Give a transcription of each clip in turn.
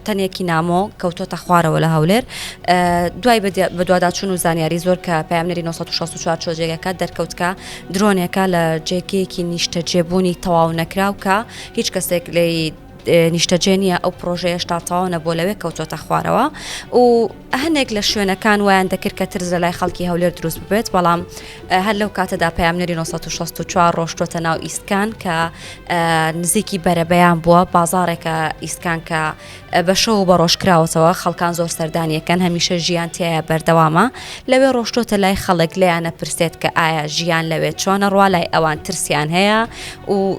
تەنێکی نامۆ کەوتۆتە خوارەوە لە هەولێر دوای بەدواداچون و زانیاری زۆر کە پامنەری 1964 چۆجێگەکە دەرکەوتکە درۆنێکە لە جێکەیەکی نیشتەجێبوونی تەواو نەکراو کە هیچ کەسێک لێی نیشتەجێ نییە ئەو پرۆژەیەش تا تاوانە بۆ لەوێ کەوتۆتە خوارەوە و هەنێک لە شوێنەکان وایان دەکرد کە ترس لەلای خەڵکی هەولێر دروست ببێت بەڵام هەر لەو کاتەدا پامنەری 1964 ڕۆشتوتە ناو ئیسکان کە نزیکی بەرەبەیان بووە بازارێکە ئیسکان کە بە شەو و بەڕۆژ کراوەتەوە خەڵکان زۆر سەردانیەکەن هەمیشە ژیان تایە بەردەوامە لەوێ ڕۆشتۆتە لای خەڵک لیانە پرسێت کە ئایا ژیان لەوێ چۆنە ڕوا لای ئەوان ترسیان هەیە و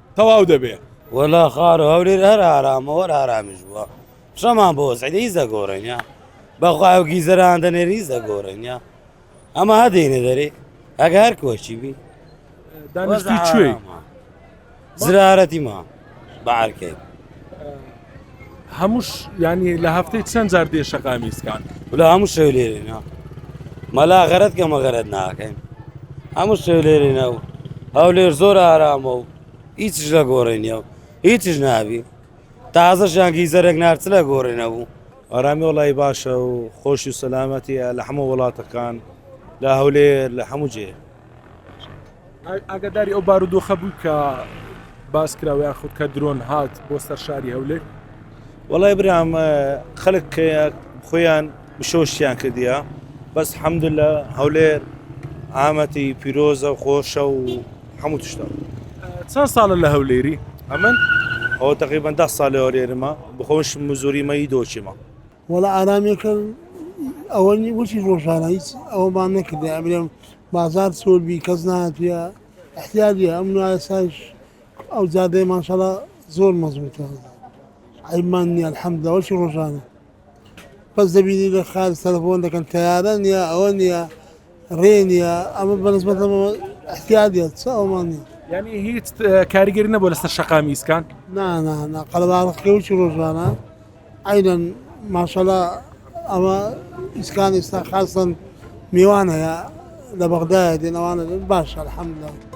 تەواو دەبێ وەلا خار و هەولێر هەر ئارامە وەر ئارامیش بووە شەمان بۆ سعید هیچ دەگۆڕێنە بەخوای و گیزەران دەنێر هیچ دەگۆڕێنە ئەمە هەدەینە دەرێ ئەگە هەر کۆچی بی دانیشتی کوێی زرارەتی ما بەعرکەی هەمووش یانی لە هەفتەی چەند جار دێ شەقامی سکان ولا هەموو شەو لێرێنا مەلا غەرەت کە مەغەرەت ناکەین هەموو شەو لێرێنە و هەولێر زۆر ئارامە و هیچش لە گۆڕێنیە و هیچش نابی تازەشیان گیزەرێک نارچ لە گۆڕێنە بوو ئارامی وڵی باشە و خۆش و سەلامەتیە لە هەموو وڵاتەکان لە هەولێر لە هەموو جێ ئاگاداری ئەو بارودۆخە بوو کە باس کراوە یاخود کە درۆن هات بۆ سەر شاری هەولێر وڵای برام خەلک خۆیان بشۆشتیان کردیا بەس حەمد لە هەولێر ئامەتی پیرۆزە و خۆشە و هەموو تشتا چەند ساڵە لە هەولێری ئەمن ئەو تقریبان ده ساڵ لەوەێرمە بخۆش مزوریمەی دۆچیمە وەڵا ئارامیەکەم ئەوە نی وەچی ڕۆژانە هیچ ئەوەمان نەکردای ئەمرێم بازار سۆر بی کەس ناتوە احتیاجە ئەم نایساش ئەو جادەی ماشەڵا زۆر مەزبوتە عیبمان نیە الحەمدە وەچی ڕۆژانە بەس دەبینی لە خار تەلەفۆن دەکەن تەیارە نیە ئەوە نیە ڕێ نییە ئەمە بەنسبەت احتیادە چ ئەومان نیە یعنی هیچ کاریگەری نەبوو لەسەر شەقامی ئیسکان نانانا قەلباڕخی و چی ڕۆژانە ئەینەن ماشەڵا ئەمە ئیسکان ئێستا خاستن میوان هەیە لە بەغدایە دێنەوانە باش الحمدلله